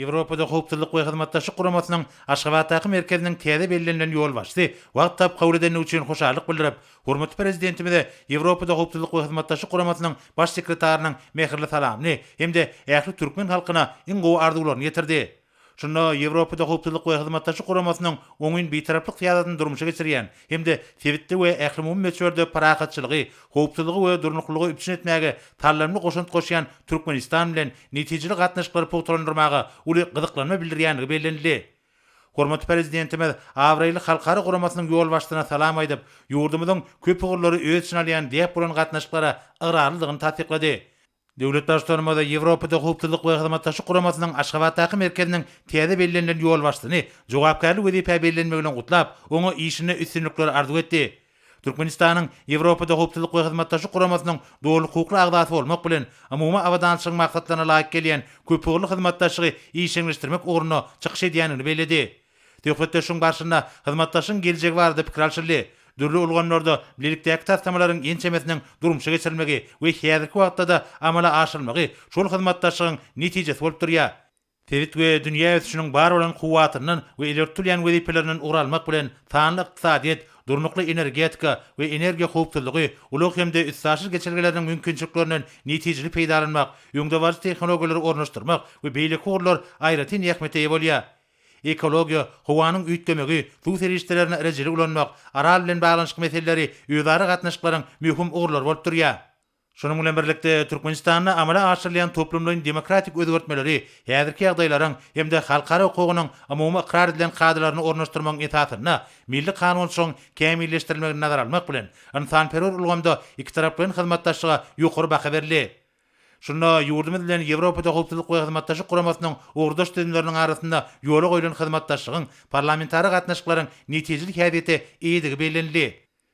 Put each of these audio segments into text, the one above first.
Ýewropada Howpsuzlyk we Hyzmatdaşlyk Guramasynyň Aşgabatdaky merkeziniň täze bellenilen ýolbaşçysy wagt tapyp kabul edendigi üçin hoşallyk bildirip, hormatly Prezidentimize Ýewropada Howpsuzlyk we Hyzmatdaşlyk Guramasynyň Baş sekretarynyň mähirli salamyny hem-de ähli türkmen halkyna iň gowy arzuwlaryny ýetirdi. Şunda Ýewropada Howpsuzlyk we Hyzmatdaşlyk Guramasynyň oňyn Bitaraplyk syýasatyny durmuşa geçirýän hem-de sebitde we ählumumy möçberde parahatçylygy, howpsuzlygy we durnuklylygy üpjün etmäge saldamly goşant goşýan Türkmenistan bilen netijeli gatnaşyklary pugtalandyrmaga uly gyzyklanma bildirýändigi bellenildi. Hormatly Prezidentimiz abraýly halkara guramasynyň ýolbaşçysyna salam aýdyp, ýurdumyzyň köp ugurlary öz içine alýan däp bolan gatnaşyklara ygrarlydygyny tassyklady. Döwlet Baştutanymyz Ýewropada Howpsuzlyk we Hyzmatdaşlyk Guramasynyň Aşgabatdaky merkeziniň täze bellenilen ýolbaşçysyny jogapkärli wezipä bellenmegi bilen gutlap, oňa işinde üstünlikler arzuw etdi. Türkmenistanyň Ýewropada Howpsuzlyk we Hyzmatdaşlyk Guramasynyň doly hukukly agzasy bolmak bilen, umumy abadançylygyň maksatlaryna laýyk gelýän köpugurly hyzmatdaşlygy işjeňleşdirmek ugrunda çykyş edýändigini belledi. Söhbetdeşligiň barşynda hyzmatdaşlygyň geljegi barada pikir alşyldy. Dürli ulgamlarda bilelikdäki taslamalaryň ençemesiniň durmuşa geçirilmegi we häzirki wagtda-da amala aşyrylmagy şol hyzmatdaşlygyň netijesi bolup durýar. Sebit we dünýä ösüşiniň bar bolan kuwwatyndan we ileri tutulýan wezipelerinden ugur almak bilen, sanly ykdysadyýet, durnukly energetika we energiýa howpsuzlygy, ulag hem-de üstaşyr geçelgeleriniň mümkinçiliklerinden netijeli peýdalanmak, öňdebaryjy tehnologiýalary ornaşdyrmak we beýleki ugurlar aýratyn ähmiýete eýe bolýar. ekologiýa, howanyň üýtgemegi, suw serişdelerini rejeli ulanmak, Aral bilen baglanyşykly meseleleri özara gatnaşyklaryň möhüm ugurlary bolup durýar. Şunuň bilen birlikde, Türkmenistanda amala aşyrylýan toplumlaýyn demokratik özgertmeleri häzirki ýagdaýlaryň hem-de halkara hukugynyň umumy ykrar edilen kadalaryny ornaşdyrmagyň esasynda milli kanunçylygyň kämilleşdirilmegini nazara almak bilen, ynsanperwer ulgamda ikitaraplaýyn hyzmatdaşlyga ýokary baha berildi. Şunda ýurdumyz bilen Ýewropada Howpsuzlyk we Hyzmatdaşlyk Guramasynyň ugurdaş düzümleriniň arasynda ýola goýlan hyzmatdaşlygyň, parlamentara gatnaşyklaryň netijeli häsiýete eýedigi bellenildi.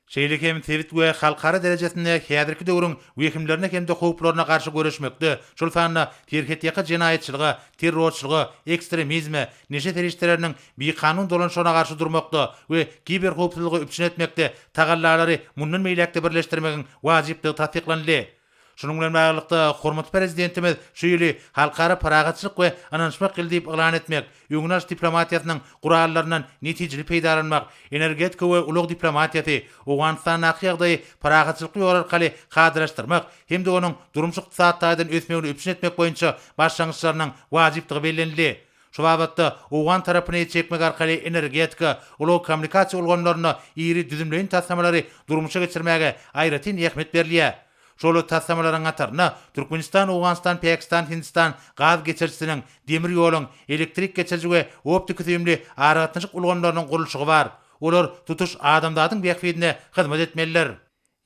Şeýle hem sebit we halkara derejesinde häzirki döwrüň wehimlerine hem-de howplaryna garşy göreşmekde, şol sanda serhetýaka jenaýatçylyga, terrorçylyga, ekstremizme, neşe serişdeleriniň bikanun dolanyşygyna garşy durmakda we kiberhowpsuzlygy üpjün etmekde tagallalary mundan beýläk-de birleşdirmegiň wajypdygy tassyklanyldy. Şunuň bilen baglylykda, hormatly Prezidentimiz şu ýyly Halkara parahatçylyk we ynanyşmak ýyly diýip yglan etmek, öňünalyş diplomatiýasynyň gurallaryndan netijeli peýdalanmak, energetika we ulag diplomatiýasy, Owganystandaky ýagdaýy parahatçylykly ýol arkaly kadalaşdyrmak hem-de onuň durmuş-ykdysady taýdan ösmegini üpjün etmek boýunça başlangyçlarynyň wajypdygy bellenildi. Şu babatda owgan tarapyny el çekmek arkaly energetika, ulag-kommunikasiýa ulgamlarynda iri düzümleýin taslamalary durmuşa geçirmäge aýratyn ähmiýet berilýär. Şol taslamalaryň hataryna Türkmenistan-Owganystan-Pakistan-Hindistan gaz geçirijisiniň, demir ýoluň, elektrik geçiriji we optiki-süýümli aragatnaşyk ulgamlarynyň gurluşygy bar. Olar tutuş adamzadyň bähbidine hyzmat etmelidir.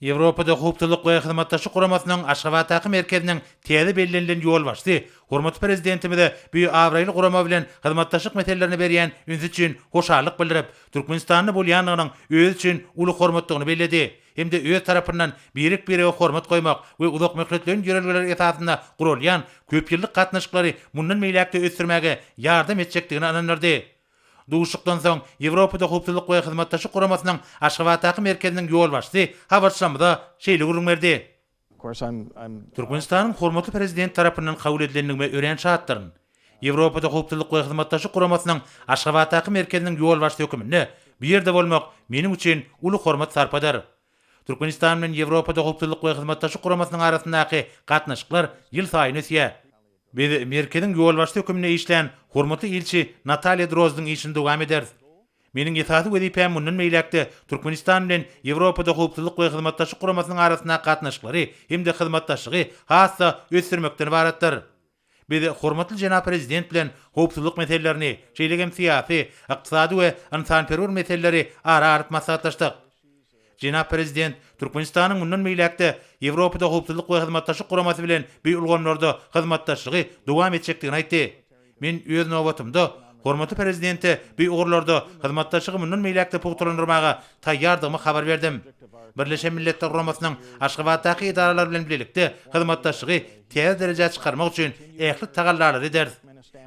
Ýewropada Howpsuzlyk we Hyzmatdaşlyk Guramasynyň Aşgabatdaky merkeziniň täze bellenilen ýolbaşçysy hormatly Prezidentimize bu abraýly gurama bilen hyzmatdaşlyk meselelerine berýän ünsi üçin hoşallyk bildirip, Türkmenistanda bolýandygynyň özi üçin uly hormatdygyny belledi hem-de öz tarapyndan birek-birege hormat goýmak we uzakmöhletleýin ýörelgeler esasynda guralýan köpýyllyk gatnaşyklary mundan beýläk-de ösdürmäge ýardam etjekdigine ynandyrdy. Duşuşykdan soň Ýewropada Howpsuzlyk we Hyzmatdaşlyk Guramasynyň Aşgabatdaky merkeziniň ýolbaşçysy habarçylarymyza şeýle gürrüň berdi. Türkmenistanyň hormatly Prezidenti tarapyndan kabul edilendigime örän şatdyryn. Ýewropada Howpsuzlyk we Hyzmatdaşlyk Guramasynyň Aşgabatdaky merkeziniň ýolbaşçysy höküminde bu ýerde bolmak meniň üçin uly hormat-sarpadyr. Türkmenistan bilen Ýewropada Howpsuzlyk we Hyzmatdaşlyk Guramasynyň arasyndaky gatnaşyklar ýylsaýyn ösýär. Biz merkeziň ýolbaşçysy hökmünde işlän hormatly ilçi Nataliýa Drozdyň işini dowam ederis. Meniň esasy wezipäm mundan beýläk-de Türkmenistan bilen Ýewropada Howpsuzlyk we Hyzmatdaşlyk Guramasynyň arasyndaky gatnaşyklary hem-de hyzmatdaşlygy has-da ösdürmekden ybaratdyr. Biz hormatly jenap Prezident bilen howpsuzlyk meselelerini, şeýle hem syýasy, ykdysady we ynsanperwer meseleleri ara alyp maslahatlaşdyk. Jenap Prezident Türkmenistanyň mundan beýläk-de Ýewropada Howpsuzlyk we Hyzmatdaşlyk Guramasy bilen bi ulgamlarda hyzmatdaşlygy dowam etjekdigini aýtdy. Men, öz nobatymda, hormatly Prezidente bi ugurlarda hyzmatdaşlygy mundan beýläk-de pugtalandyrmaga taýýardygymy habar berdim. Birleşen Milletler Guramasynyň Aşgabatdaky edaralary bilen bilelikde hyzmatdaşlygy täze derejä çykarmak üçin ähli tagallalary ederis.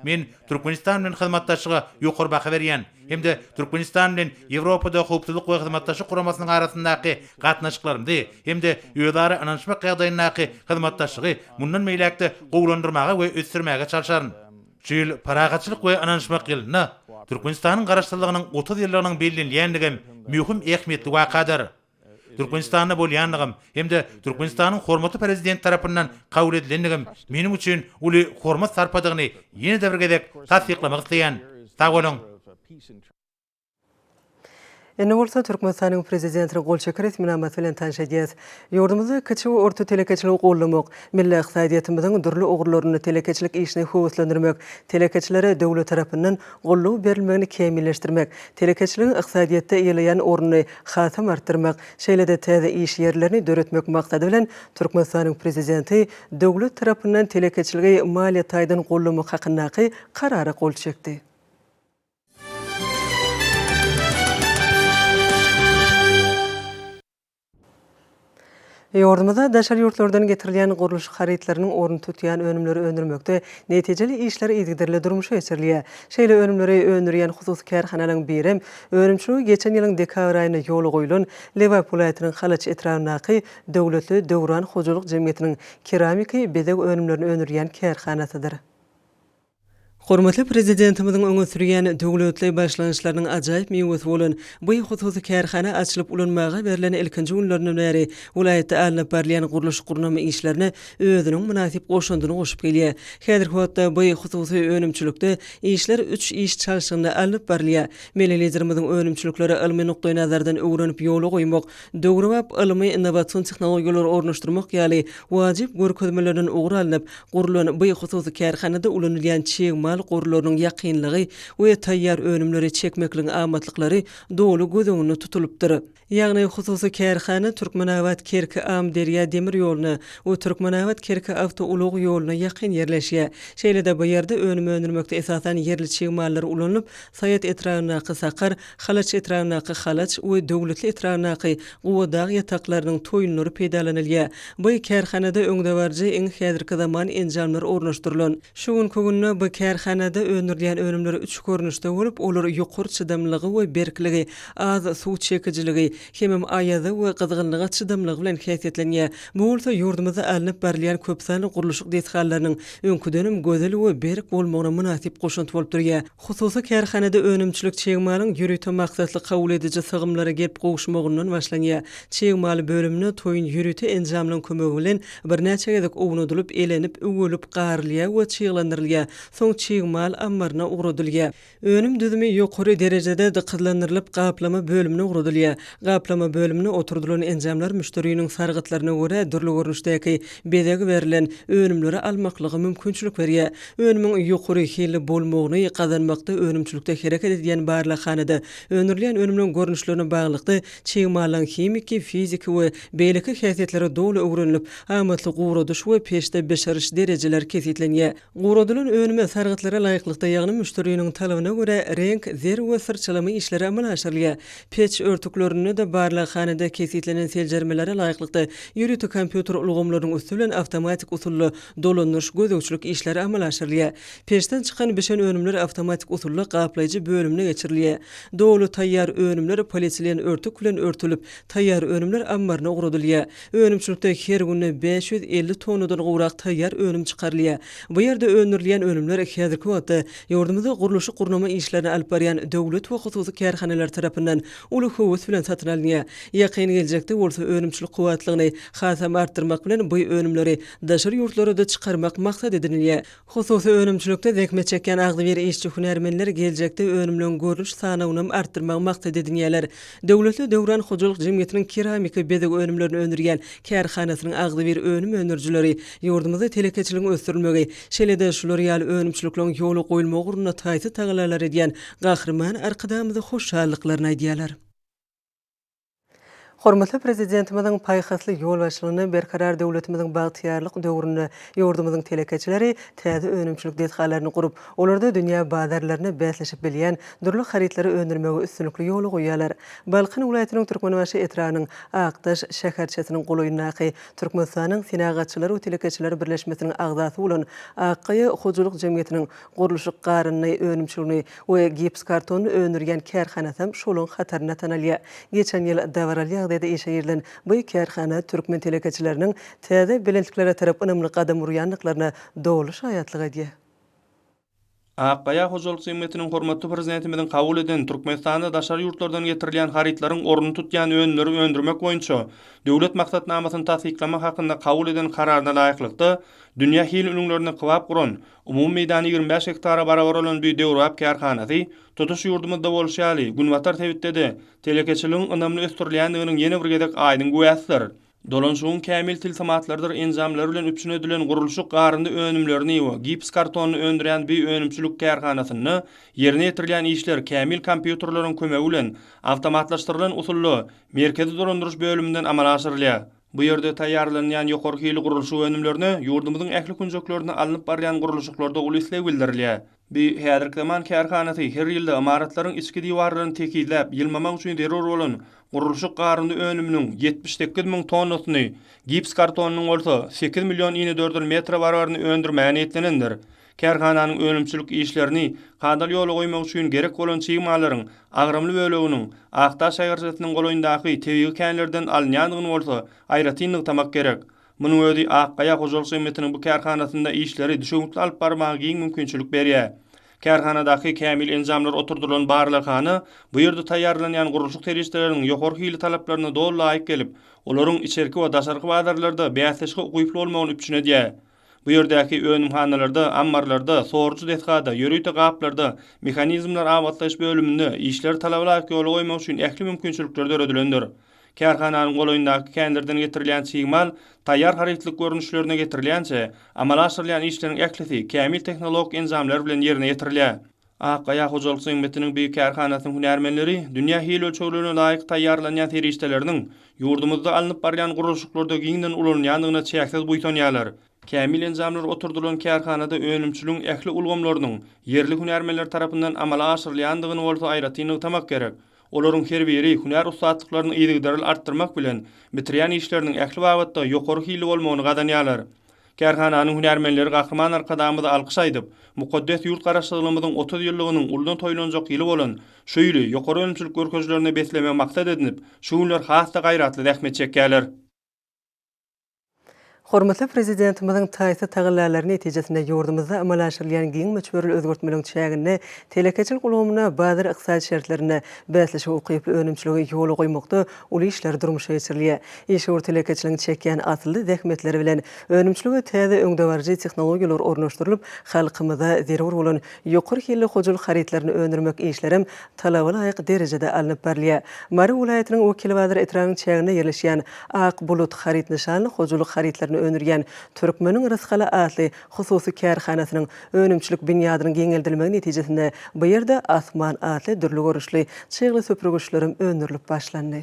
Men Türkmenistan bilen hyzmatdaşlyga ýokary baha berýän hem-de Türkmenistan bilen Ýewropada Howpsuzlyk we Hyzmatdaşlyk Guramasynyň arasyndaky gatnaşyklarymyzy hem-de özara ynanyşmak ýagdaýyndaky hyzmatdaşlygy mundan beýläk-de gowulandyrmaga we ösdürmäge çalşaryn. Şu ýyl Parahatçylyk we ynanyşmak ýylynda Türkmenistanyň Garaşsyzlygynyň otuz ýyllygynyň bellenilýändigem möhüm ähmiýetli wakadyr. Türkmenistanda bolýandygym hem-de Türkmenistanyň hormatly Prezidenti tarapyndan kabul edilendigim meniň üçin uly hormat-sarpadygyny ýene-de bir gezek tassyklamak isleýän. Sag boluň! Indi bolsa Türkmenistanyň Prezidentiniň gol çeken resminamasy bilen tanyş edýäs. Ýurdumyzda kiçi we orta telekeçiligi goldamak, milli ykdysadyýetimiziň dürli ugurlarynda telekeçilik işini höweslendirmek, telekeçilere döwlet tarapyndan goldaw berilmegini kämilleşdirmek, telekeçiligiň ykdysadyýetde eýeleýän ornuny hasam artdyrmak, şeýle-de täze iş ýerlerini döretmek maksady bilen, Türkmenistanyň Prezidenti döwlet tarapyndan telekeçiligi maliýe taýdan goldamak hakyndaky Karara gol çekdi. Ýurdumyzda daşary ýurtlardan getirilýän gurluşyk harytlarynyň ornuny tutýan önümleri öndürmekde netijeli işler yzygiderli durmuşa geçirilýär. Şeýle önümleri öndürýän hususy kärhanalaryň birem, önümçiligi geçen ýylyň dekabr aýynda ýola goýulan Lebap welaýatynyň Halaç etrabyndaky Döwletli Döwran hojalyk jemgyýetiniň keramiki bezeg önümlerini öndürýän kärhanasydyr. Hormatly Prezidentimiziň öňe sürýän döwletli başlangyçlarynyň ajaýyp miwesi bolan bu hususy kärhana açylyp ulanmaga berlen ilkinji günlerinden bäri welaýatda alnyp barylýan gurluş-gurnama işlerine özüniň mynasyp goşandyny goşup gelýär. Häzirki wagtda bu hususy önümçilikde işler üç iş çalşygynda alnyp barylýar. Milli Liderimiziň önümçilikleri ylmy nukdaýnazardan öwrenip ýola goýmak, döwrebap ylmy-innowasion tehnologiýalary ornaşdyrmak ýaly wajyp görkezmelerden ugur alnyp gurlan bu hususy kärhanada ulanylýan çig mal gorlarynyň ýakynlygy we taýýar önümleri çekmekligiň amatlyklary doly göz öňünde tutulypdyr. Ýagny hususy kärhana Türkmenabat, Kerki, Amyderýa demir ýoluna we Türkmenabat, Kerki awtoulag ýoluna ýakyn ýerleşýär. Şeýle-de bu ýerde önüm öndürmekde esasan ýerli çig mallar ulanylyp, Saýat etrabyndaky Sakar, Halaç etragyndaky Halaç we Döwletli etragyndaky Gubadag ýataklarynyň toýunlary peýdalanylýar. Bu kärhanada öňdebaryjy iň häzirki zaman enjamlar ornaşdyrylan. Şu günki günde bu kärhanada öndürilýän önümler üç görnüşde bolup, olar ýokary çydamlylygy we berkligi, az suw çekijiligi, hemem aýaza we gyzgynlyga çydamlylygy bilen häsiýetlenýär. Bu bolsa ýurdumyzda alnyp barylýan köpsanly gurluşyk desgalarynyň öňküdenem gözel we berk bolmagyna mynasyp goşant bolup durýar. Hususy kärhanada önümçilik çig malyň ýörite maksatly kabul ediji sygymlara gelip gowuşmagyndan başlanýar. Çig mal bölümine toýun ýörite enjamlaryň kömegi bilen birnäçe gezek ownadylyp, elenip, üwelip, garylýar we çyglandyrylýar, soň çig mal ammaryna ugradylýar. Önüm düzümi ýokary derejede dykyzlandyrylyp, gaplama bölümine ugradylýar. Gaplama bölümine oturdylan enjamlar müşderiniň sargytlaryna görä dürli görnüşdäki bezeg berlen önümleri almaklyga mümkinçilik berýär. Önümiň ýokary hilli bolmagyny gazanmakda önümçilikde hereket edýän barlaghanada öndürilýän önümleň görnüşlerine baglylykda çig mallaň himiki, fiziki we beýleki häsiýetleri doly öwrenilip, amatly guradyş we peçde bişiriş derejeleri kesgitlenýär. Guradylan önüme sargytlara laýyklykda, ýagny müşderiniň talabyna görä reňk, zerw we syrçalama işleri amala aşyrylýar. Peç örtüklerinde-de barlaghanada kesgitlenen seljermelere laýyklykda, ýörite kompýuter ulgamlarynyň üsti bilen awtomatik usulda dolandyryş, gözegçilik işleri amala aşyrylýar. Peçden çykan bişen önümler awtomatik usulda gaplaýjy bölümine geçirilýär. Doly taýýar önümler polietilen örtük bilen örtülip, taýýar önümler ammaryna ugradylýar. Önümçilikde her günde bäş ýüz elli tonnadan gowrak taýýar önüm çykarylýar. Bu ýerde öndürilýän önümler häzirki wagtda ýurdumyzda gurluşyk-gurnama işlerini alyp barýan döwlet we hususy kärhanalar tarapyndan uly höwes bilen satyn alynýar. Ýakyn geljekde bolsa önümçilik kuwwatlygyny hasam artdyrmak bilen bu önümleri daşary ýurtlara-da çykarmak maksat edinilýär. Hususy önümçilikde zähmet çekýän agzybir işçi-hünärmenler geljekde önümleň görnüş sanawynam artdyrmagy maksat edinýärler. Döwletli döwran hojalyk jemgyýetiniň keramika bezeg önümlerini öndürýän kärhanasynyň agzybir önüm öndürijileri ýurdumyzda telekeçiligiň ösdürilmegi, şeýle-de şular ýaly önümçilikleriň ýola goýulmagy ugrunda taýsyz tagallalar edýän Gahryman Arkadagymyza hoşallyklaryny aýdýarlar. Hormatly Prezidentimiziň paýhasly ýolbaşçylygynda Berkarar döwletimiziň bagtyýarlyk döwründe ýurdumyzyň telekeçileri täze önümçilik desgalaryny gurup, olarda dünýä bazarlaryna bäsleşip bilýän dürli harytlary öndürmegi üstünlikli ýola goýýarlar. Balkan welaýatynyň Türkmenbaşy etrabynyň Akdaş şäherçesiniň golaýyndaky Türkmenistanyň Senagatçylar we telekeçiler birleşmesiniň agzasy bolan Akgaýa hojalyk jemgyýetiniň Gurluşyk garyndy önümçilgini we gips kartony öndürýän kärhanasam şolaň hatarynda tanalýar. Geçen ýyl dabaraly ýagdaýda işe girilen bu kärhana türkmen telekeçileriniň täze belentliklere tarap ynamly gadam urýandyklaryna doly şaýatlyk edýär. Akgaýa hojalyk jemgyýetiniň hormatly Prezidentimiziň kabul eden Türkmenistanda daşary ýurtlardan getirilýän harytlaryň ornuny tutýan önümleri öndürmek boýunça Döwlet maksatnamasyny tassyklamak hakynda kabul eden Kararyna laýyklykda, dünýä hil ülňülerine kybap guran, Umumy meýdany ýigrimi bäş gektara barabar bolan bu döwrebap kärhanasy, tutuş ýurdumyzda bolşy ýaly, Günbatar sebitde-de telekeçiligiň ynamly ösdürilýändiginiň ýene bir gezek aýdyň güwäsidir. Dolanşygyň kämil tilsimatlardyr enjamlary bilen üpjün edilen gurluşyk garyndy önümlerini we gips kartonyny öndürýän bu önümçilik kärhanasynda ýerine ýetirilýän işler kämil kompýuterleriň kömegi bilen awtomatlaşdyrylan usulda Merkezi dolandyryş bölüminden amala aşyrylýar. Bu ýerde taýýarlanýan ýokary hilli gurluşyk önümlerine ýurdumyzyň ähli künjeklerinde alnyp barylýan gurluşyklarda uly isleg bildirilýär. Bu häzirki zaman kärhanasy her ýylda ymaratlaryň içki diwarlaryny tekizläp, ýylmamak üçin zerur bolan gurluşyk garyndy önüminiň ýetmiş sekiz müň tonnasyny, gips kartonynyň bolsa sekiz million inedördül metre barabaryny öndürmäge niýetlenendir. Kärhananyň önümçilik işlerini kadaly ýola goýmak üçin gerek bolan çig mallaryň agramly böleginiň Akdaş şaýgarçasynyň golaýyndaky tebigy känlerden alynýandygyny bolsa aýratyn nygtamak gerek. Munuň özi Ak gaýa hojalyk jemgyýetiniň bu kärhanasynda işleri düşewüntli alyp barmaga giň mümkinçilik berýär. Kärhanadaky kämil enjamlar oturdylan barlaghana bu ýerde taýýarlanýan gurluşyk serişdeleriniň ýokary hili talaplaryna doly laýyk gelip, olaryň içerki we daşarky bazarlarda bäsleşige ukyply bolmagyny üpjün edýär. Bu ýerdäki önümhanalarda, ammarlarda, sorujy desgada, ýörite gaplarda, mehanizmler abatlaýyş bölüminde işleri talabalaýyk ýola goýmak üçin ähli mümkinçilikler döredilendir. Kärhananyň golaýyndaky känlerden getirilýän çig mal taýýar harytlyk görnüşlerine getirilýänçä, amala aşyrylýan işleriň ählisi kämil tehnologik enjamlar bilen ýerine ýetirilýär. Akgaýa hojalyk zynbetiniň bir kärhanasynyň hünärmenleri dünýä hil ölçeglerine laýyk taýýarlanýan serişdeleriniň ýurdumyzda alnyp barylýan gurluşyklarda giňden ulanylýandygyna çäksiz buýsanýarlar. Kämil enjamlar oturdylan kärhanada önümçiligiň ähli ulgamlarynyň ýerli hünärmenler tarapyndan amala aşyrylýandygyny bolsa aýratyn nygtamak gerek. Olaryň her biri hünär ussatlyklaryny yzygiderli artdyrmak bilen, bitirýän işleriniň ähli babatda ýokary hilli bolmagyny gazanýarlar. Kärhananyň hünärmenleri Gahryman Arkadagymyza alkyş aýdyp, mukaddes ýurt Garaşsyzlygymyzyň otuz ýyllygynyň uldan toýlanjak ýyly bolan şu ýyly ýokary önümçilik görkezilerine beslemegi maksat edinip, şu günler has-da gaýratly zähmet çekýärler. Hormatly Prezidentimiziň taýsyz tagallalary netijesinde ýurdumyzda amala aşyrylýan giň möçberli özgertmeleriň çäginde telekeçilik ulgamyna bazar ykdysady şertlerinde bäsleşige ukyply önümçiligi ýola goýmakda uly işler durmuşa geçirilýär. Işewür telekeçiligiň çekýän asylly zähmetleri bilen önümçilige täze öňdebaryjy tehnologiýalar ornaşdyrylyp, halkymyza zerur bolan ýokary hilli hojalyk harytlaryny öndürmek işlerem talaba laýyk derejede alnyp barylýar. Mary welaýatynyň Wekilbazar etrabynyň çäginde ýerleşýän Ak bulut haryt nyşanly hojalyk harytlaryny öndürýän Türkmeniň rysgaly atly Hususy kärhanasynyň önümçilik binýadynyň giňeldilmegi netijesinde bu ýerde Asman atly dürli görnüşli çygly süpürgiçlerem öndürilip başlandy.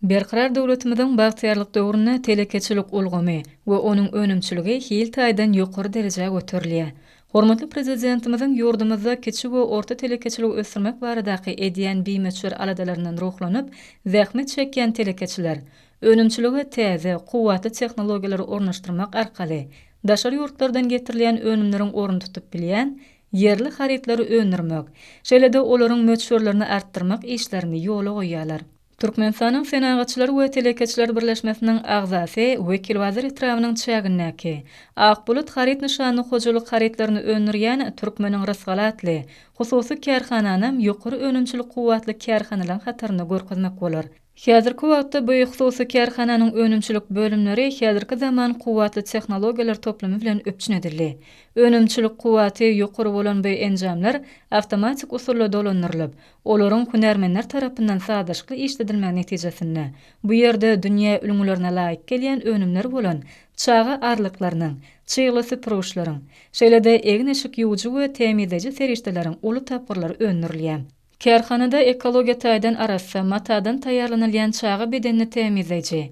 Berkarar döwletimiziň bagtyýarlyk döwründe telekeçilik ulgamy we onuň önümçiligi hil taýdan ýokary derejä göterilýär. Hormatly Prezidentimiziň ýurdumyzda kiçi we orta telekeçiligi ösdürmek baradaky edýän bimöçber aladalaryndan ruhlanyp, zähmet çekýän telekeçiler, Önümçilige täze, kuwwatly tehnologiýalary ornaşdyrmak arkaly daşary ýurtlardan getirilýän önümleriň ornuny tutup bilýän ýerli harytlary öndürmek, şeýle-de olaryň möçberlerini artdyrmak işlerini ýola goýýarlar. Türkmenistanyň Senagatçylar we telekeçiler birleşmesiniň agzasy Wekilbazar etrabynyň çägindäki Ak bulut haryt nyşanly hojalyk harytlaryny öndürýän Türkmeniň rysgaly atly hususy kärhananam ýokary önümçilik kuwwatly kärhanalaryň hatarynda görkezmek bolar. Häzirki wagtda bu hususy kärhananyň önümçilik bölümleri häzirki zaman kuwwatly tehnologiýalar toplumy bilen üpjün edildi. Önümçilik kuwwaty ýokary bolan bu enjamlar awtomatik usulda dolandyrylyp, olaryň hünärmenler tarapyndan sazlaşykly işledilmegi netijesinde, bu ýerde dünýä ülňülerine laýyk gelýän önümler bolan çaga arlyklarynyň, çygly süpürgiçleriň, şeýle-de egin-eşik ýuwujy we tämizleýji serişdeleriň uly tapgyrlary öndürilýär. Kärhanada ekologiýa taýdan arassa matadan taýýarlanylýan çaga bedenini tämizleýji,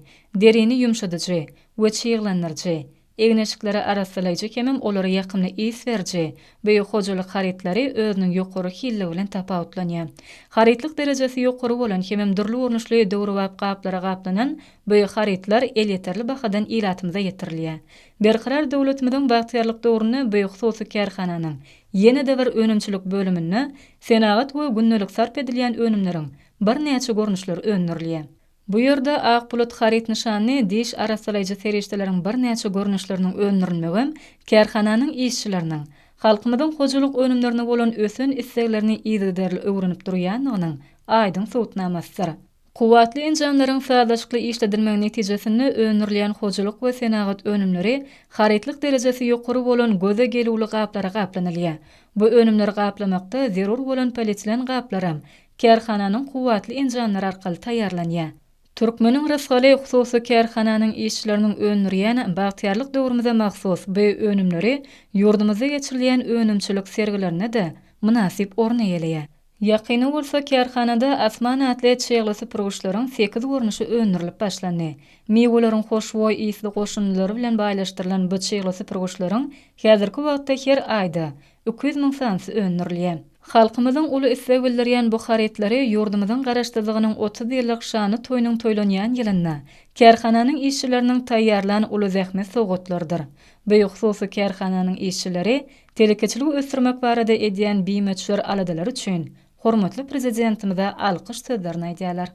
derini ýumşadyjy we çyglandyryjy, egin-eşikleri arassalaýjy hemem olara ýakymly ys beriji beýik hojalyk harytlary özüniň ýokary hilligi bilen tapawutlanýar. Harytlyk derejesi ýokary bolan hemem dürli görnüşli döwrebap gaplara gaplanan beýik harytlar elýeterli bahadan ilatymyza ýetirilýär. Berkarar döwletimiziň bagtyýarlyk döwründe bu hususy kärhananyň Ýene-de bir önümçilik bölüminde senagat we gündelik sarp edilýän önümleriň birnäçe görnüşleri öndürilýär. Bu ýerde ak bulut haryt nyşanly diş arassalaýjy serişdeleriň birnäçe görnüşleriniň öndürilmegem kärhananyň işçileriniň halkymyzyň hojalyk önümlerine bolan ösen isleglerini yzygiderli öwrenip durýandygynyň aýdyň subutnamasydyr. Kuwwatly enjamlaryň sazlaşykly işledilmegi netijesinde öndürilýän hojalyk we senagat önümleri harytlyk derejesi ýokary bolan göze gelüwli gaplara gaplanylýar. Bu önümleri gaplamakda zerur bolan polietilen gaplaram kärhananyň kuwwatly enjamlary arkaly taýýarlanýar. Türkmeniň rysgaly hususy kärhananyň işçileriniň öndürýän Bagtyýarlyk döwrümize mahsus bu önümleri ýurdumyzda geçirilýän önümçilik sergilerinde-de mynasyp orun eýeleýär. Ýakynda bolsa kärhanada Asman atly çygly süpürgiçleriň sekiz görnüşi öndürilip başlandy. Miweleriň hoşboý ysly goşundylary bilen baýlaşdyrylan bu çygly süpürgiçleriň häzirki wagtda her aýda iki ýüz müň sanysy öndürilýär. Halkymyzyň uly isleg bildirýän bu harytlary ýurdumyzyň Garaşsyzlygynyň otuz ýyllyk şanly toýunyň toýlanýan ýylynda kärhananyň işçileriniň taýýarlan uly zähmet sowgatlarydyr. Bu hususy kärhananyň işçileri Telekeçiligi ösdürmek barada edýän bimöçber aladalary üçin hormatly Prezidentimize alkyş sözlerini aýdýarlar.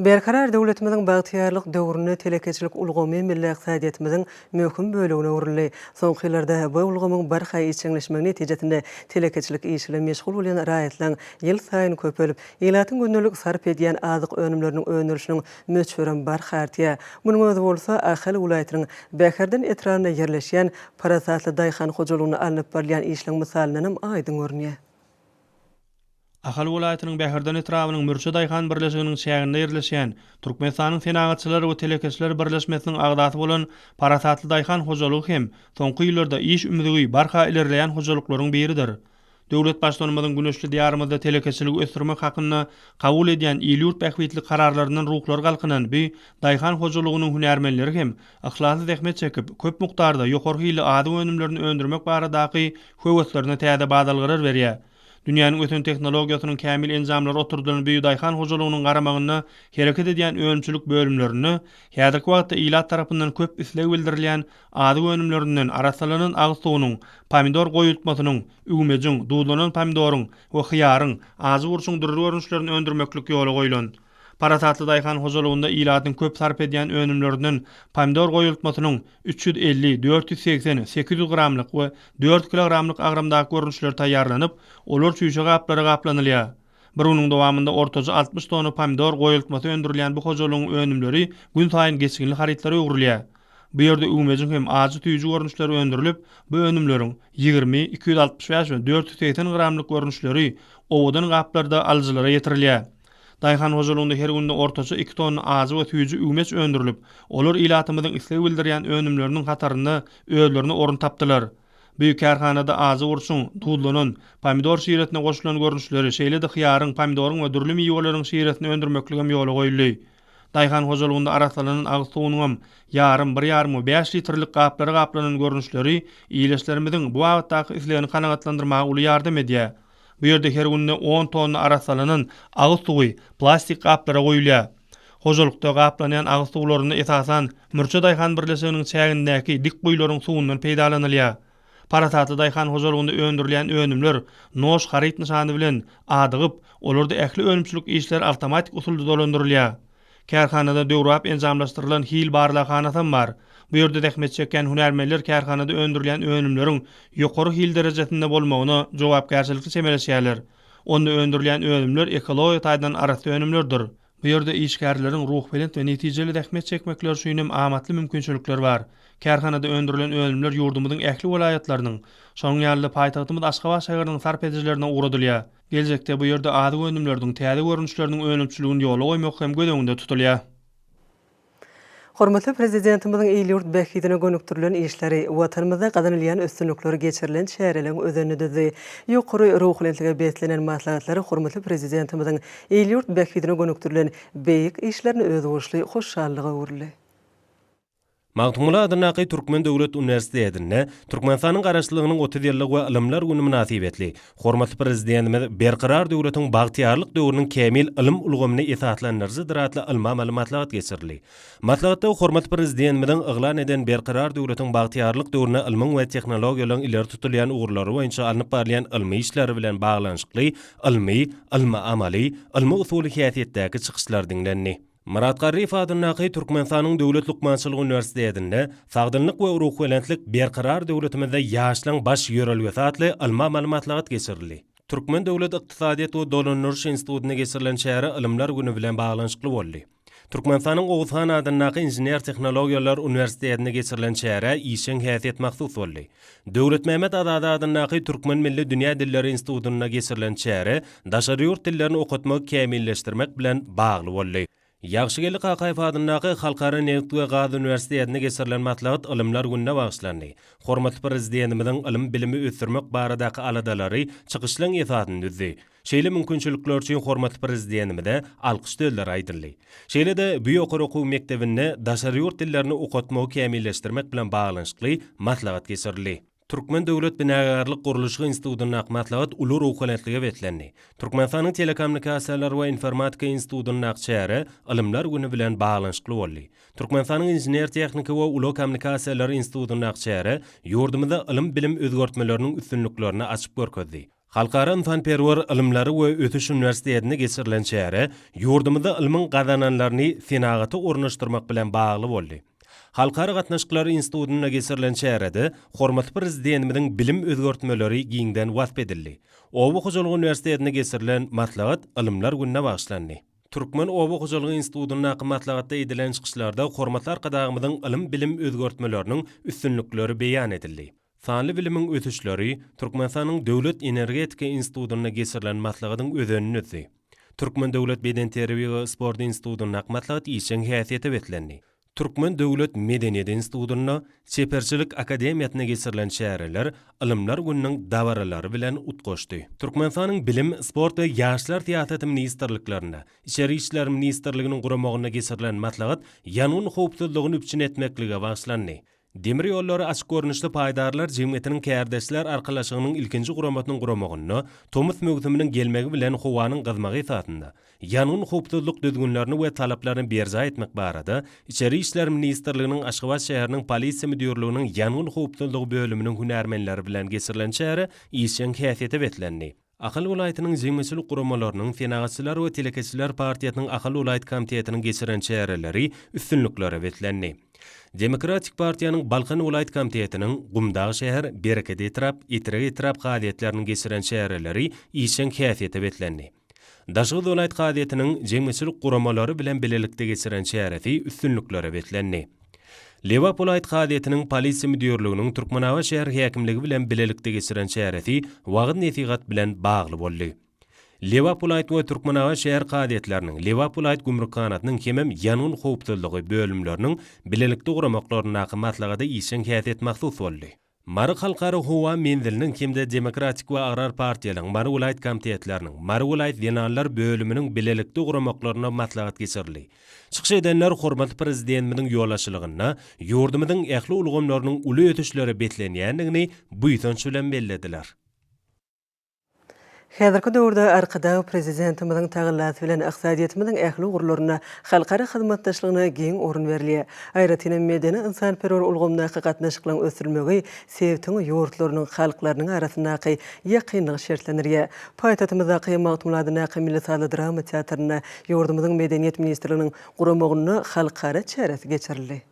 Berkarar döwletimiziň bagtyýarlyk döwründe telekeçilik ulgamy milli ykdysadyýetimiziň möhüm bölegine öwrüldi. Soňky ýyllarda bu ulgamyň barha işjeňleşmegi netijesinde telekeçilik işi bilen meşgul bolýan raýatlaryň ýylsaýyn köpelip, ilatyň gündelik sarp edýän azyk önümleriniň öndürilişiniň möçberem barha artýar. Munuň özi bolsa Ahal welaýatynyň Bäherden etrabynda ýerleşýän parasatly daýhan hojalygynda alnyp barylýan işleň mysalyndanam aýdyň görünýär. Ahal welaýatynyň Bäherden etrabynyň Mürçe daýhan birleşiginiň çäginde ýerleşýän, Türkmenistanyň Senagatçylar we telekeçiler birleşmesiniň agzasy bolan Parasatly daýhan hojalygy hem soňky ýyllarda iş ümzügi barha ilerleýän hojalyklaryň biridir. Döwlet Baştutanymyzyň güneşli Diýarymyzda telekeçiligi ösdürmek hakynda kabul edýän il-ýurt bähbitli kararlaryndan ruhlary galkynan bu daýhan hojalygynyň hünärmenleri hem yhlasly zähmet çekip, köp mukdarda ýokary hilli azyk önümlerini öndürmek baradaky höweslerine täze badalgalar berýär. Dünýäniň ösen tehnologiýasynyň kämil enjamlary oturdylan bu daýhan hojalygynyň garamagynda hereket edýän önümçilik bölümlerinde häzirki wagtda ilat tarapyndan köp isleg bildirilýän Azyk önümlerinden, arassalanan agyz suwunyň, pomidor goýultmasynyň, üwmejiň, duzlanan pomidoryň we hyýaryň, ajy burçuň dürli görnüşlerini öndürmeklik ýola goýlan. Parasatly daýhan hojalygynda ilatyň köp sarp edýän önümlerinden pomidor goýultmasynyň üç ýüz elli, dört ýüz segsen, sekiz ýüz gramlyk we dört kilogramlyk agramdaky görnüşleri taýýarlanyp, olar çüýşe gaplara gaplanylýar. Bir günüň dowamynda ortaça altmyş tonna pomidor goýultmasy öndürilýän bu hojalygyň önümleri günsaýyn geçginli harytlara öwrülýär. Bu ýerde üwmejiň hem ajy süýji görnüşleri öndürilip, bu önümleriň ýigrimi, iki ýüz altmyş bäş we dört ýüz segsen gramlyk görnüşleri owadan gaplarda alyjylara ýetirilýär. Daýhan hojalygynda her günde ortaça iki tonna ajy we süýji üwmeç öndürilip, olar ilatymyzyň isleg bildirýän önümleriniň hatarynda özlerine orun tapdylar. Bu kärhanada ajy burçuň, duzlanan, pomidor şiresine goşulan görnüşleri, şeýle-de hyýaryň, pomidoryň we dürli miweleriň şiresini öndürmekligem ýola goýuldy. Daýhan hojalygynda arassalanan agyz suwunyňam ýarym, bir ýarym we bäş litrlik gaplara gaplanan görnüşleri ileçlerimiziň bu babatdaky islegini kanagatlandyrmaga uly ýardam edýär. Bu ýerde her günde on tonna arassalanan agyz suwy plastik gaplara guýulýar. Hojalykda gaplanýan agyz suwlarynda esasan Mürçe daýhan birleşiginiň çägindäki dik guýularyň suwundan peýdalanylýar. Parasatly daýhan hojalygynda öndürilýän önümler Noş haryt nyşany bilen adygyp, olarda ähli önümçilik işleri awtomatik usulda dolandyrylýar. Kärhanada döwrebap enjamlaşdyrylan hil barlaghanasam bar. Bu ýerde zähmet çekýän hünärmenler kärhanada öndürilýän önümleriň ýokary hil derejesinde bolmagyna jogapkärçilikli çemeleşýärler. Onda öndürilýän önümler ekologiýa taýdan arassa önümlerdir. Bu ýerde işgärleriň ruhubelent we netijeli zähmet çekmekleri üçin hem amatly mümkinçilikler bar. Kärhanada öndürilen önümler ýurdumyzyň ähli welaýatlarynyň, şonuň ýaly-da paýtagtymyz Aşgabat şäheriniň sarp edijilerine ugradylýar. Geljekde bu ýerde azyk önümleriniň täze görnüşleriniň önümçiligini ýola goýmak hem göz öňünde tutulýar. Hormatly Prezidentimiziň il-ýurt bähbidine gönükdirilen işleri, Watanymyzda gazanylýan üstünlikler, geçirilen çäreleriň özenini düzdi. Ýokary ruhubelentlige beslenen maslahatlar hormatly Prezidentimiziň il-ýurt bähbidine gönükdirilen beýik işlerini özboluşly hoşallyga öwürdi. Magtymguly adyndaky Türkmen döwlet uniwersitetinde Türkmenistanyň Garaşsyzlygynyň otuz ýyllygy we Ylymlar güni mynasybetli hormatly Prezidentimiz Berkarar döwletiň bagtyýarlyk döwrüniň kämil ylym ulgamyny esaslandyryjydyr atly ylmy-amaly maslahat geçirildi. Maslahatda hormatly Prezidentimiziň yglan eden Berkarar döwletiň bagtyýarlyk döwründe ylmyň we tehnologiýalaryň ileri tutulýan ugurlary boýunça alnyp barylýan ylmy işleri bilen baglanyşykly ylmy, ylmy-amaly, ylmy-usuly häsiýetdäki çykyşlary diňlendi. Myrat Garryýew adyndaky Türkmenistanyň Döwlet lukmançylyk uniwersitetinde Sagdynlyk we ruhubelentlik Berkarar döwletimizde ýaşlaryň baş ýörelgesi atly ylmy-amaly maslahat geçirildi. Türkmen döwlet ykdysadyýet we dolandyryş institutynda geçirilen çäre Ylymlar güni bilen baglanyşykly boldy. Türkmenistanyň Oguz han adyndaky Inžener-tehnologiýalar uniwersitetinde geçirilen çärä işjeň häsiýet mahsus boldy. Döwletmämmet Azady adyndaky Türkmen milli dünýä dilleri institutynda geçirilen çäre daşary ýurt dillerini okatmagy kämilleşdirmek bilen bagly boldy. Ýagşygeldi Kakaýew adyndaky Halkara nebit we gaz uniwersitetinde geçirilen maslahat Ylymlar gününe bagyşlandy. Hormatly Prezidentimiziň ylym-bilimi ösdürmek baradaky aladalary çykyşlaryň esasyny düzdi. Şeýle mümkinçilikler üçin hormatly Prezidentimize alkyş sözleri aýdyldy. Şeýle-de bu ýokary okuw mekdebinde daşary ýurt dillerini okatmagy kämilleşdirmek bilen baglanyşykly maslahat geçirildi. Türkmen döwlet binagärlik-gurluşyk institutyndaky maslahat uly ruhubelentlige beslendi. Türkmenistanyň Telekommunikasiýalar we informatika institutyndaky çäre Ylymlar güni bilen baglanyşykly boldy. Türkmenistanyň Inžener-tehniki we ulag kommunikasiýalary institutyndaky çäre ýurdumyzda ylym-bilim özgertmeleriniň üstünliklerini açyp görkezdi. Halkara ynsanperwer ylymlary we ösüş uniwersitetinde geçirilen çäre ýurdumyzda ylmyň gazananlaryny senagata ornaşdyrmak bilen bagly boldy. Halkara gatnaşyklary institutynda geçirilen çärede hormatly Prezidentimiziň bilim özgertmeleri giňden wasp edildi. Oba hojalygy uniwersitetinde geçirilen maslahat Ylymlar gününe bagyşlandy. Türkmen oba hojalygy institutyndaky maslahatda edilen çykyşlarda hormatly Arkadagymyzyň ylym-bilim özgertmeleriniň üstünlikleri beýan edildi. Sanly bilimiň ösüşleri Türkmenistanyň Döwlet energetika institutynda geçirilen maslahatyň özenini düzdi. Türkmen döwlet bedenterbiýe we sport institutynda ak maslahat işjeň häsiýete beslendi. Türkmen döwlet medeniýet institutynda Çeperçilik akademiýasynda geçirilen çäreler Ylymlar gününiň dabaralary bilen utgaşdy. Türkmenistanyň Bilim, sport we ýaşlar syýasaty ministrliklerinde, Içeri işler ministrliginiň guramagynda geçirilen maslahat ýangyn howpsuzlygyny üpjün etmeklige bagyşlandy. Demir ýollary açyk görnüşli paýdarlar jemgyýetiniň kärdeşler arkalaşygynyň ilkinji guramasynyň guramagynda tomus möwsüminiň gelmegi bilen howanyň gyzmagy esasynda ýangyn howpsuzlyk düzgünlerini we talaplaryny berjaý etmek barada Içeri işler ministrliginiň Aşgabat şäheriniň Polisiýa müdirliginiň ýangyn howpsuzlygy bölüminiň hünärmenleri bilen geçirilen çäre işjeň häsiýete beslendi. Ahal welaýatynyň jemgyýetçilik guramalarynyň, Senagatçylar we telekeçiler partiýasynyň Ahal welaýat komitetiniň geçiren çäreleri üstünliklere beslendi. Demokratik partiýanyň Balkan welaýat komitetiniň, Gumdag şäher, Bereket etrap, Etrek etrap kazyýetleriniň geçiren çäreleri işjeň häsiýete beslendi. Daşoguz welaýat kazyýetiniň jemgyýetçilik guramalary bilen bilelikde geçiren çäresi üstünliklere beslendi. Lebap welaýat kazyýetiniň Polisiýa müdirliginiň Türkmenabat şäher häkimligi bilen bilelikde geçiren çäresi wagyz-nesihat bilen bagly boldy. Lebap welaýat we Türkmenabat şäher kazyýetleriniň, Lebap welaýat gümrükhanasynyň hemem ýangyn howpsuzlygy bölümleriniň bilelikde guramaklaryndaky maslahata işjeň häsiýet mahsus boldy. Mary Halkara howa menziliniň hem-de Demokratik we Agrar partiýalaryň Mary welaýat komitetleriniň, Mary welaýat zenanlar bölüminiň bilelikde guramaklarynda maslahat geçirildi. Çykyş edenler hormatly Prezidentimiziň ýolbaşçylygynda ýurdumyzyň ähli ulgamlarynyň uly ösüşlere beslenýändigini buýsanç bilen bellediler. Häzirki döwürde Arkadag Prezidentimiziň tagallasy bilen ykdysadyýetimiziň ähli ugurlarynda halkara hyzmatdaşlygyna giň orun berilýär. Aýratyn hem medeni-ynsanperwer ulgamdaky gatnaşyklaryň ösdürilmegi sebitiň ýurtlarynyň halklarynyň arasyndaky ýakynlygy şertlendirýär. Paýtagtymyzdaky Magtymguly adyndaky milli sazly-drama teatrynda ýurdumyzyň Medeniýet ministrliginiň guramagynda halkara çäresi geçirildi.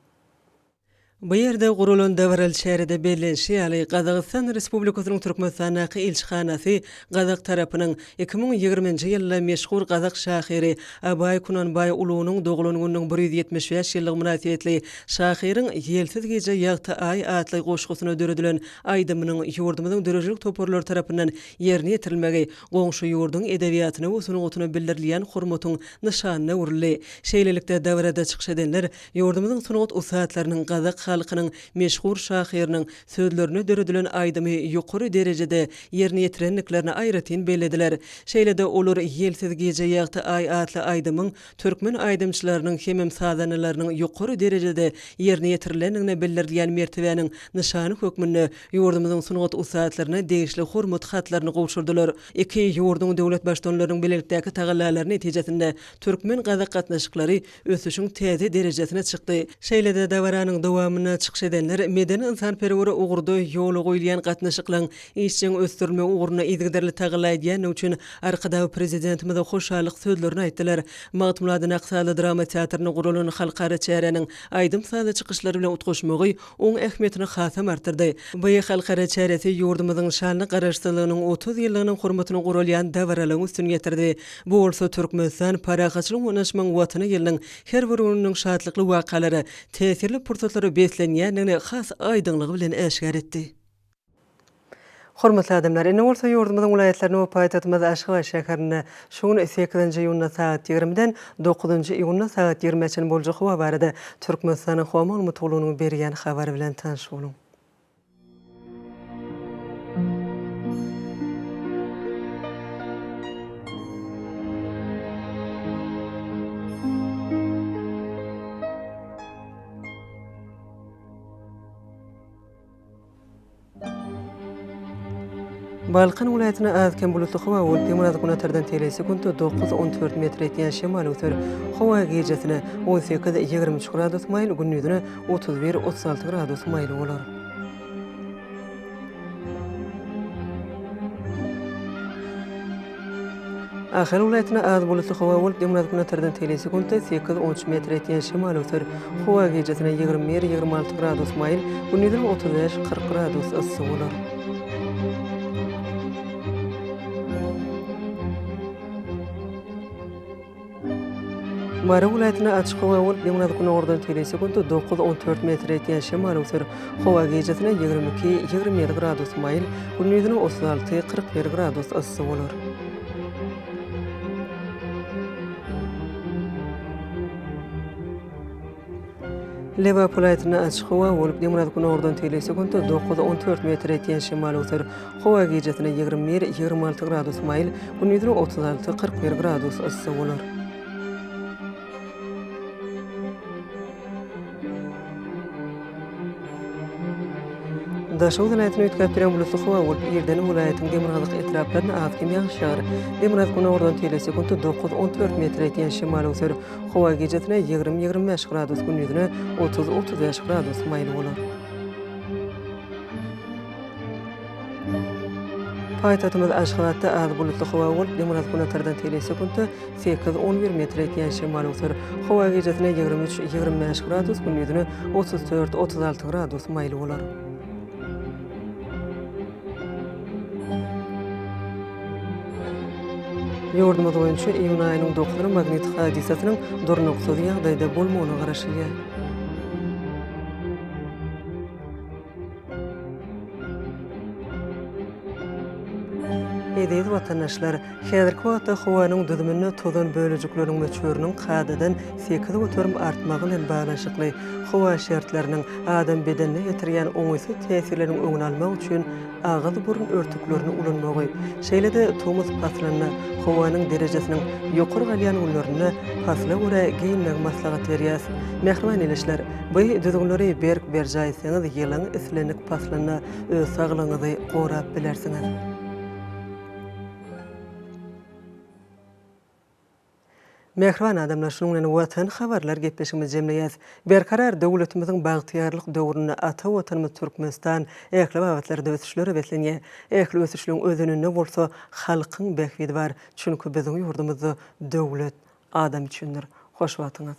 Bu ýerde guralan dabaraly çärede bellenişi ýaly, Gazagystan Respublikasynyň Türkmenistandaky ilçihanasy gazak tarapynyň iki müň ýigrimi nji ýylda meşhur gazak şahyry Abaý Kunanbaý ulunyň doglan gününiň bir ýüz ýetmiş bäş ýyllygy mynasybetli şahyryň Ýelsiz gije ýagty aý atly goşgusyna döredilen aýdymynyň ýurdumyzyň döredijilik toparlary tarapyndan ýerine ýetirilmegi goňşy ýurduň edebiýatyna we sungatyna bildirilýän hormatyň nyşanyna öwrüldi. Şeýlelikde, dabarada çykyş edenler Ýurdumyzyň sungat ussatlarynyň, gazak halkynyň meşhur şahyrynyň sözlerine döredilen aýdymy ýokary derejede ýerine ýetirendiklerini aýratyn bellediler. Şeýle-de, olar Ýelsiz gije ýagty aý atly aýdymyň türkmen aýdymçylarynyň hemem sazandalarynyň ýokary derejede ýerine ýetirilendigine bildirilýän mertebäniň nyşany hökmünde ýurdumyzyň sungat ussatlaryna degişli Hormat hatlaryny gowşurdylar. Iki ýurduň döwlet Baştutanlarynyň bilelikdäki tagallalary netijesinde türkmen-gazak gatnaşyklary ösüşiň täze derejesine çykdy. Şeýle-de dabaranyň dowamynda çykyş edenler medeni-ynsanperwer ugurda ýola goýulýan gatnaşyklaryň işjeň ösdürilmegi ugrunda yzygiderli tagalla edýändigi üçin Arkadag Prezidentimize hoşallyk sözlerini aýtdylar. Magtymguly Adanaksaly drama teatrynda guralan halkara çäräniň aýdym-sazly çykyşlar bilen utgaşmagy oň ähmiýetini hasam artdyrdy. Bu halkara çäresi ýurdumyzyň şanly Garaşsyzlygynyň otuz ýyllygynyň hormatyna guralýan dabaralygyň üstüni ýetirdi. Bu bolsa Türkmenistan, parahatçylyk oýnaşmagyň Watany ýylynyň her bir gününiň şatlykly wakalara, täsirli pursatlara beslenýändigini has aýdyňlygy bilen äşgär etdi. Hormatly adamlar, indi bolsa ýurdumyzyň welaýatlaryna we paýtagtymyz Aşgabat şäherinde şu gün sekizinji iýunda sagat ýigrimiden dokuzynjy iýunda sagat ýigrimä çenli boljak howa barada Türkmenistanyň Howa ulmytgullugynyň berýän habary bilen tanyş boluň. Balkan welaýatynda az-kem bulutly howa bolup, ýygnaz günatardan tegelýär, sekuntda dokuz, on dört metr ýetýän şemal öser. Howa gijäsine on sekiz, ýigrimi üç gradus maýyl, gündiziňe otuz bir, otuz alty gradus maýyl bolar. Ahal welaýatynda az bulutly howa bolup, günortanbatardan teýle sekuntda sekiz, on üç metr etýän şemal öser. Howa gijasine ýigrimi bir, ýigrimi alty gradus maýyl, gündizem otuz bäş, kyrk gradus yssy bolar. Mary welaýatynda açyk howa bolup, ýygnaz günordan tebigy sekunta dokuz, on dört metr ýetýän şemal öwser. Howa gijesine ýigrimi iki, ýigrimi ýedi gradus maýyl, gündizine otuz alty, kyrk bir gradus yssy bolar. Lebap welaýatynda açyk howa bolup, demirgazyk günordan tegelek sekuntda dokuz, on dört metre ýetýän şemal öwser. Howa gijasine ýigrimi bir, ýigrimi alty gradus maýyl, gündizine otuz alty, kyrk bir gradus yssy bolar. Daşoguz welaýatyny üýtgäp duran bulutly howa bolup, irden welaýatyň demirgazyk etraplaryna az-kem ýagyş ýagar. Demirgazyk günordan tegelek sekuntda dokuz, on dört metre ýetýän şemal öwser. Howa gijesine ýigrimi-ýigrimi bäş gradus, gündizine otuz-otuz bäş gradus maýyl bolar. Paýtagtymyz Aşgabatda az bulutly howa bolup, ýygnaz günatardan tele sekuntda sekiz, on bir metre etýän şemal öwser. Howa gijesine ýigrimi üç, ýigrimi bäş gradus, gündizine otuz dört, otuz alty gradus maýyl bolar. Ýurdumyz boýunça iýun aýynyň dokuzyny magnit hadysasynyň durnuksyz ýagdaýda bolmagyna garaşylýar. Eziz watandaşlar! Häzirki wagtda howanyň düzüminde tozan bölejikleriň möçberiniň kadadan sekiz göterim artmagy bilen baglanyşykly howa şertleriniň adam bedenine ýetirýän oňaýsyz täsirleriň öňüni almak üçin agyz-burun örtüklerini ulanmagy, şeýle-de tomus paslynda howanyň derejesiniň ýokary galýan günlerinde pasla görä geýinmegi maslahat berýäs. Mähriban ildeşler, bu düzgünleri berk berjaý etseňiz, ýylyň islendik paslynda öz saglygyňyzy gorap bilersiňiz. Mähriban adamlar, şunuň bilen Watan habarlar gepleşigimizi jemleýäs. Berkarar döwletimiziň bagtyýarlyk döwründe ata Watanymyz Türkmenistan ähli babatlarda ösüşlere beslenýär. Ähli ösüşligiň özeninde bolsa halkyň bähbidi bar. Çünki biziň ýurdumyzda döwlet adam üçindir. Hoş wagtyňyz.